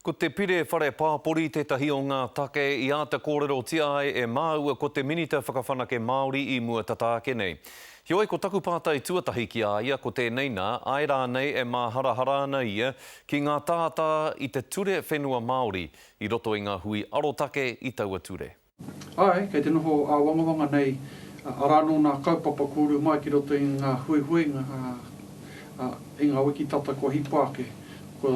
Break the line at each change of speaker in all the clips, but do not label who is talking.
Ko te Pire Whare Pāpori tētahi o ngā take i āta kōrerotia ai e māua ko te Minita Whakawhanake Māori i mua tata ake nei. Heoi, ko taku pātai tuatahi ki a ia ko tēnei nā, āe rānei e māharahara ana ia ki ngā tātā i te ture whenua Māori i roto i ngā hui arotake i taua ture? Āe, kei te
noho āwangawanga nei, arā anō ngā kaupapa kua uru mai ki roto i ngā huihuinga, ā, i ngā wiki tata kua hipa ake, kua,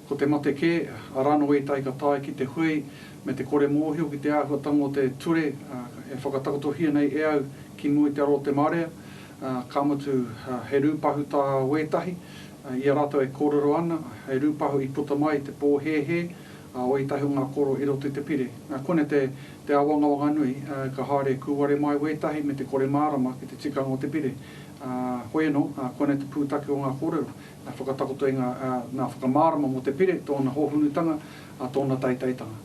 ko te mate kē, arā anō ētahi ka tae ki te hui me te kore mōhio ki te āhuatanga o te ture, ā, e whakatakotohia nei e au ki mua i te aro o te marea, ā, ka mutu, ā, he rūpahu tā wētahi, ā, i a rātou e kōrero ana, he rūpahu i puta mai i te pōhēhē, Ā, oi tahi o ngā koro i roto i te pire. Ā, kone te, te āwangawanga nui, ā, ka haere kūware mai wētahi me te kore mārama ki te tikanga o te pire. Ā, hoi anō, ā, kone te pūtake o ngā kōrero, ā, whakatakoto i ngā, ā, nā whakamārama mō te pire, tōna hōhunutanga, ā, tōna teiteitanga.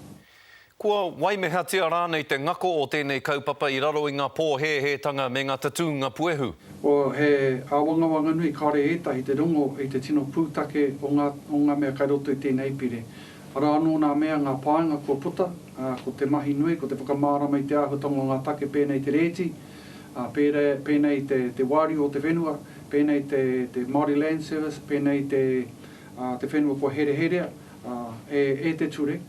Kua
waimehatia rānei te ngako o tēnei kaupapa i raro i ngā pōhēhētanga me ngā tatūnga puehu? O, he
āwangawanga nui, kāore ētahi te rongo i te tino pūtake o ngā, o ngā mea kai roto i tēnei pire. Arā anō nā mea, ngā pānga kua puta, ā, ko te mahi nui, ko te whakamārama i te āhuatanga o ngā take pēnei i te rēti, ā, pērā, pēnei i te, te wāriu o te whenua, pēnei te, te Māori Land Service, pēnei te, ā, te whenua kua hereherea, ā, e, e te ture.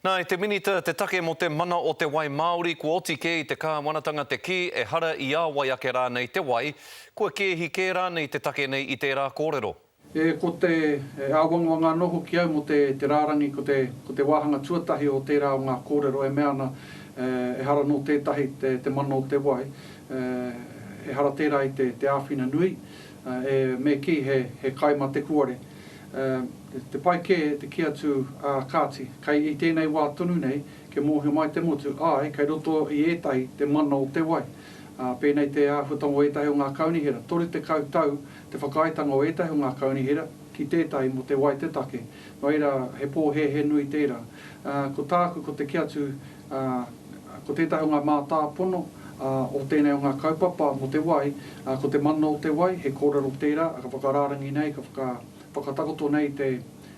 Nā, e te Minita,
te take mō te mana o te wai māori kua oti kē i te kāwanatanga te kī ehara i ā wai ake rānei te wai, kua kēhi kē rānei te take nei i tērā kōrero. E, ko te,
e āwangawanga anō hoki au mō te, te rārangi ko te, ko te wāhanga tuatahi o tērā o ngā kōrero e mea ana e, ehara nō tētahi te, te mana o te wai, e, ehara tērā i te, te āwhina nui. E, me kī, he, he kai mā te kuare. E, te pai kē te kī atu, ā, kāti, kei, i tēnei wā tonu nei, kia mōhio mai te motu, āe, kei roto i ētahi te mana o te wai. Ā, pēnei te āhuatanga o ētahi o ngā kaunihera, toru tekau tau te whakaaetanga o ētahi o ngā kaunihera ki tētahi mō te wai te take. Noira, he pōhēhē nui tērā. Ā, ko tāku, ko te kī atu, ā, ko tētahi o ngā mātāpono, ā, o tēnei o ngā kaupapa mō te wai, ā, ko te mana o te wai, he kōrero tērā, ā, ka whakarārangi nei, ka whaka, whakatakoto nei te,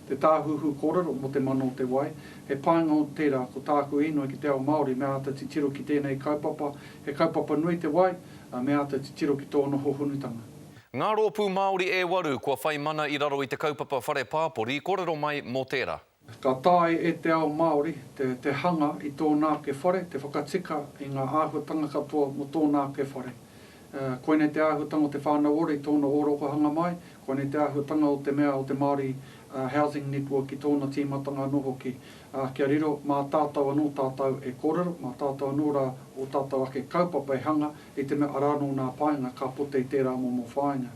te tāhuhu kōrero mō te mana o te wai. He painga o tērā, ko tāku inoi ki te ao Māori, me āta titiro ki tēnei kaupapa, he kaupapa nui te wai, ā, me āta titiro ki tōna hohonutanga. Ngā rōpū
Māori e waru kua whai mana i raro i te kaupapa Whare Pāpori, kōrero mai mō tērā. Ka taea e
te ao Māori te hanga i tōna ake whare, te whakatika i ngā āhuatanga katoa mō tōna ake whare. Koinei te āhuatanga o te whānau ora i tōna ōrokohanga mai, koinei te āhuatanga o te mea o te Māori Housing Network i tōna tīmatanga anō hoki. Kia riro, mā tātou anō tātou e kōrero, mā tātou anō rā ō tātou ake kaupapa e hanga, i te mea arā anō nā paenga ka pote i tērā momo whāinga.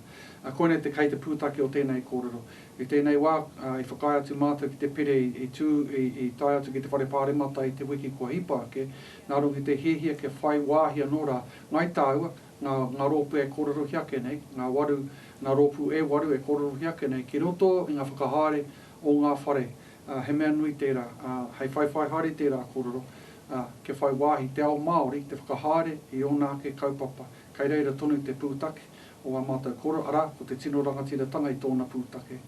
Koinei te kei te pūtake o tēnei kōrero. I tēnei wā, i whakaae atu mātou ki te pire i tū, i tae atu ki te Whare Pāremata i te wiki kua hipa ake, nā runga i te hiahia kia whai wāhi anō rā ngai tāua, ngā rōpū e kōrerohi ake nei, ngā waru, ngā rōpū e waru e kōrerohi ake nei ki roto i ngā whakahaere o ngā whare, he mea nui tērā, hei whaiwhai haere i tērā kōrero, kia whai wāhi te ao Māori te whakahaere i ōna ake kaupapa, kei reira tonu te pūtake o ngā mātou koro, arā, ko te tino rangatiratanga i tōna pūtake.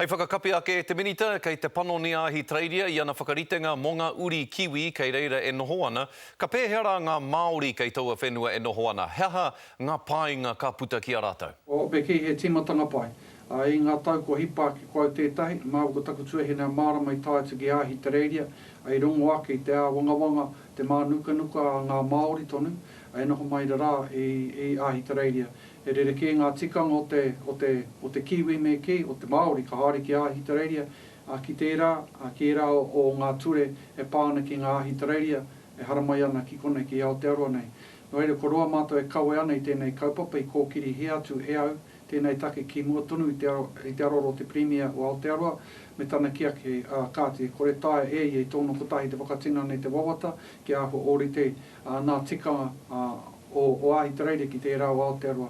Hei whakakapi
ake e te Minita, kei te panoni a Ahitereiria i ana whakaritenga mō ngā uri kiwi kei reira e noho ana, ka pēhea rā ngā Māori kei taua whenua e noho ana, he aha ngā painga ka puta ki a rātou? Ope kei he tīmatanga
pai. Ā, i ngā tau kua hipa ake koa i tētahi, māu ko taku tuahine mārama i tae atu ki Ahitereiria, i rongo ake i te āwangawanga, te mānukanuka a ngā Māori tonu, I noho mai rarā i i Āhitereiria, he rerekē ngā tikanga o te, o te, o te Kiwi me kī, o te Māori ka haere ki Āhitereiria, ā, ki tērā, ā, ki ērā o, o ngā ture e pā ana ki ngā Āhitereiria e haramai ana ki konei, ki Aotearoa nei. Nō reira, ko roa mātou e kawe ana i tēnei kaupapa i kōkirihia atu e au tēnei take ki mua tonu i te, i te aroro o te Pirimia o Aotearoa me tana kiaki, ā, kāti, e kore taea e ia i tōna kotahi te whakatinana i te wawata Te Aho Ōrite, nā tika o Ahitereire ki tērā o Aotearoa.